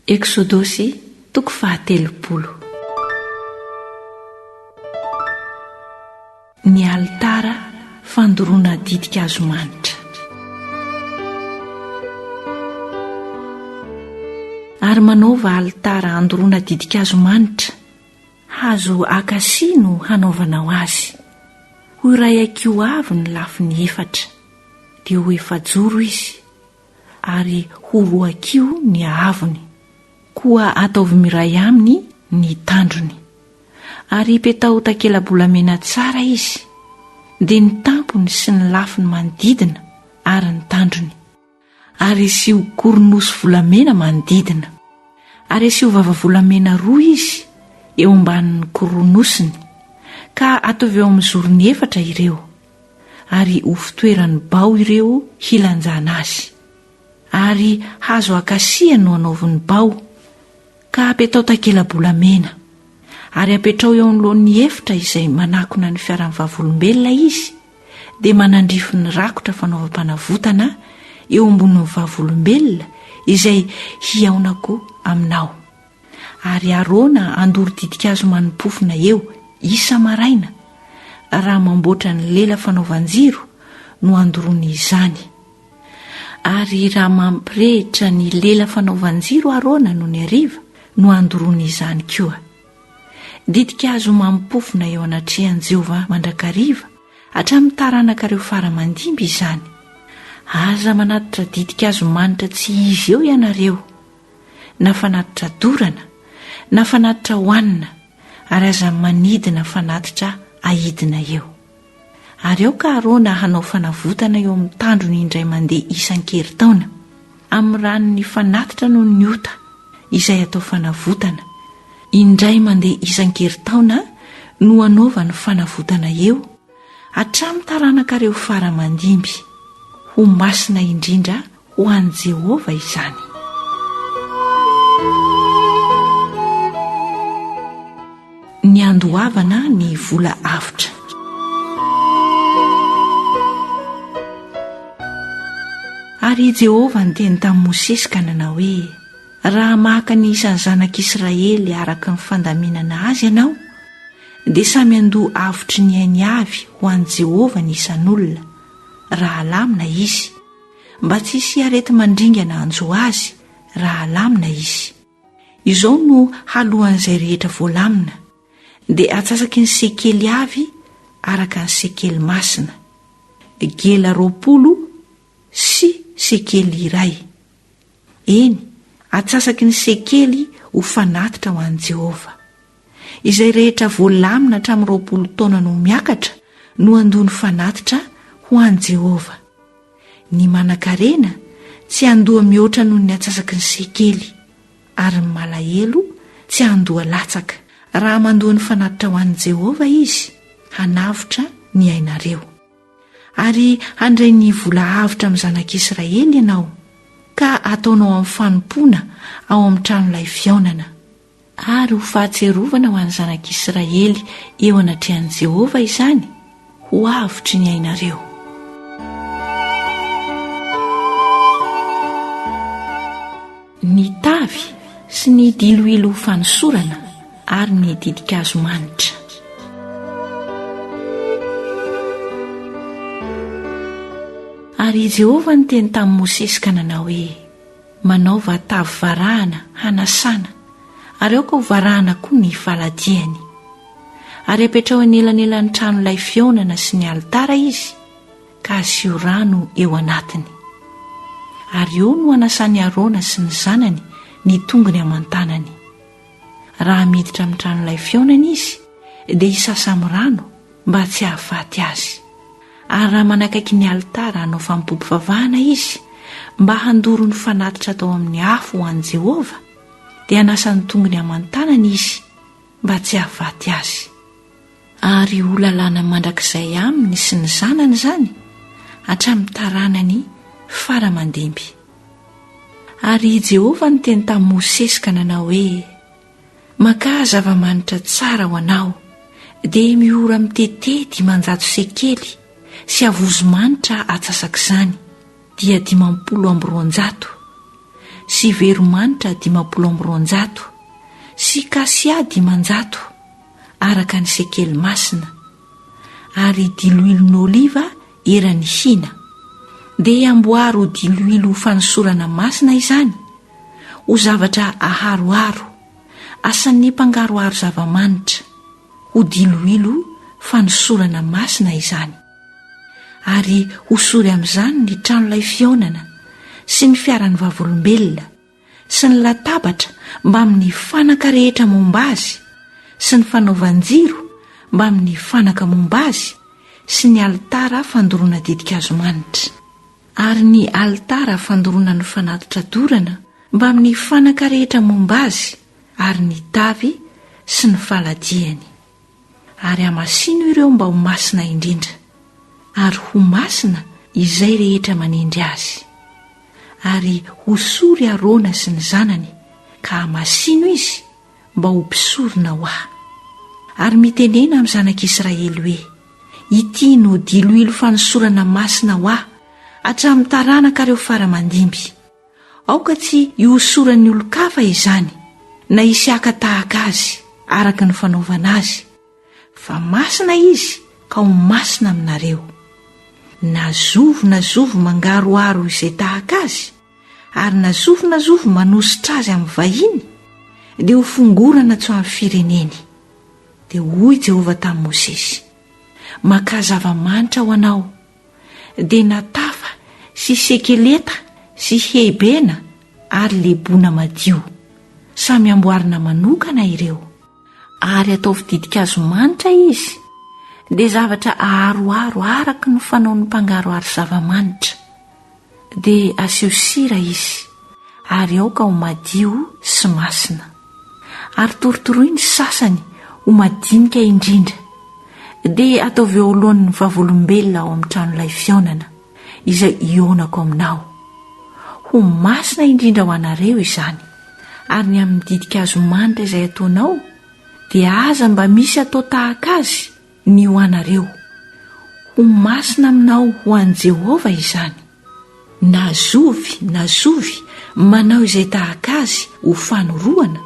Eksodosy, toko fahatelopolo. Ny alitara fandoroana ditin-kazo manitra. Ary manaova alitara andoroana ditin-kazo manitra, hazo akasia no hanaovanao azy. Ho iray hakiho avy ny lafiny efatra, dia ho efajoro izy. ary ho roakio ny haavony. Koa ataovy miray aminy ny tandrony. Ary ipetaho takela-bolamena tsara izy, dia ny tampony sy ny lafiny manodidina ary ny tandrony. Ary asio koronosy volamena manodidina. Ary asio vava volamena roa izy eo ambanin'ny koronosiny, ka atovy eo amin'ny zorony efatra ireo. ary ho fitoeran'ny bao ireo hilanjana azy. Ary hazo akasia no hanaovy ny bao, ka apetao takela-bolamena. Ary apetrao eo anoloan'ny efitra izay manakona ny fiaran'ny Vavolombelona izy, dia manandrify ny rakotra fanaovam-panavotana eo ambonin'ny Vavolombelona izay hihaonako aminao. Ary Arona handoro ditin-kazo mani-pofona eo, isa-maraina, raha mamboatra ny lela fanaovan-jiro no handoroany izany. Ary raha mampirehitra ny lela fanaovan-jiro Arona nony hariva no handoroany izany koa. Ditin-kazo mani-pofona eo anatrehan'i Jehovah mandrakariva, hatramin'ny taranakareo fara-mandimby izany. Aza manatitra ditin-kazo manitra tsy izy eo ianareo. na fanatitra dorana na fanatitra hohanina ary aza manidina fanatitra ahidina eo. Ary aoka Arona hanao fanavotana eo amin'ny tandrony indray mandeha isan-keritaona, amin'ny ranon'ny fanatitra noho ny ota izay atao fanavotana, indray mandeha isan-keritaona no anaovany fanavotana eo, Hatramin'ny taranakareo fara aman-dimby. Ho masina indrindra ho an'i Jehovah izany. Ny handoavana ny vola avotra. Ary i Jehovah niteny tamin'i Mosesy ka nanao hoe, Raha maka ny isan'ny zanak'Israely araka ny fandaminana azy ianao, dia samy handoa avotry ny ainy avy ho an'i Jehovah ny isan'olona, raha alamina izy, mba tsy hisy areti-mandringana hanjo azy, raha alamina izy. Izao no haloan'izay rehetra voalamina, dia atsasaky ny sekely avy araka ny sekely masina, gela roapolo sy sekely iray. Eny, atsasaky ny sekely ho fanatitra ho an'i Jehovah. Izay rehetra voalamina hatramin'ny roapolo taona no miakatra no handoa ny fanatitra ho an'i Jehovah. Ny manankarena tsy handoa mihoatra noho ny atsasaky ny sekely, ary ny malahelo tsy handoa latsaka. Raha mandoa ny fanatitra ho an'i Jehovah izy, hanavotra ny ainareo. Ary handray ny vola avotra amin'ny zanak'Israely ianao, ka hataonao amin'ny fanompoana ao amin'ny tranolay fihaonana. Ary ho fahatsiarovana ho an'ny zanak'Israely eo anatrehan'i Jehovah izany, ho avotry ny ainareo. ny tavy sy ny diloilo fanosorana ary ny ditin-kazo manitra. Ary i Jehovah niteny tamin'i Mosesy ka nanao hoe, Manaova tavy varahana hanasana, ary aoka ho varahana koa ny faladiany. Ary apetraho anelanelan'ny tranolay fihaonana sy ny alitara izy, ka asio rano eo anatiny. Ary eo no anasan'i Arona sy ny zanany ny tongony aman-tanany. Raha miditra amin'ny tranolay fihaonana izy, dia hisasa amin'ny rano mba tsy hahafaty azy. Ary raha manakaiky ny alitara hanao fanompoam-pivavahana izy, mba handoro ny fanatitra atao amin'ny afo ho an'i Jehovah, dia hanasa ny tongony aman-tanany izy mba tsy hahafaty azy. Ary ho lalàna mandrakizay aminy sy ny zanany izany hatramin'ny taranany fara aman-dimby. Ary i Jehovah niteny tamin'i Mosesy ka nanao hoe, Makà zava-manitra tsara ho anao, dia miora mitete dimanjato sekely sy havozo manitra atsasak'izany, dia dimampolo amby roanjato, sy veromanitra dimampolo amby roanjato, sy kasia dimanjato, araka ny sekely masina, ary diloilo n'oliva eran'ny hina, dia amboary ho diloilo ho fanosorana masina izany, ho zavatra aharoharo, asan'ny mpangaroharo zava-manitra, ho diloilo fanosorana masina izany. Ary hosory amin'izany ny tranolay fihaonana sy ny fiaran'ny vavolombelona, sy ny latabatra mbamin'ny fanaka rehetra momba azy, sy ny fanaovan-jiro mbamin'ny fanaka momba azy, sy ny alitara fandoroana ditin-kazo manitra. Ary ny alitara fandoroana ny fanatitra dorana mbamin'ny fanaka rehetra momba azy, ary ny tavy sy ny faladiany. Ary hamasino ireo mba ho masina indrindra, ary ho masina izay rehetra manendry azy. Ary hosory Arona sy ny zanany, ka hamasino izy mba ho mpisorona ho Ahy. Ary mitenena amin'ny zanak'Israely hoe, Ity no diloilo fanosorana masina ho Ahy hatramin'ny taranakareo fara mandimby. Aoka tsy hihosoran'ny olon-kafa izany, na hisy haka tahaka azy, araka ny fanaovana azy, fa masina izy ka ho masina aminareo. Na zovy na zovy mangaroharo izay tahaka azy, ary na zovy na zovy manositra azy amin'ny vahiny, dia ho fongorana tsy ho an'ny fireneny. Dia hoy Jehovah tamin'i Mosesy, Makà zava-manitra ho anao, dia natafa sy sekeleta sy heibena ary lebona madio. Samy amboarina manokana ireo, ary ataovy ditin-kazo manitra izy, dia zavatra aharoharo araka ny fanaon'ny mpangaroharo zava-manitra. dia asio sira izy ary aoka ho madio sy masina, ary torotoroy ny sasany ho madinika indrindra, dia ataovy eo alohan'ny Vavolombelona ao amin'ny tranolay fihaonana, izay hihaonako aminao. Ho masina indrindra ho anareo izany. Ary ny amin'ny ditin-kazo manitra izay ataonao, dia aza mba misy atao tahaka azy, ny ho anareo. Ho masina aminao ho an'i Jehovah izany. Na zovy na zovy manao izay tahaka azy ho fanorohana,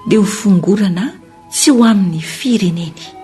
dia ho fongorana tsy ho amin'ny fireneny.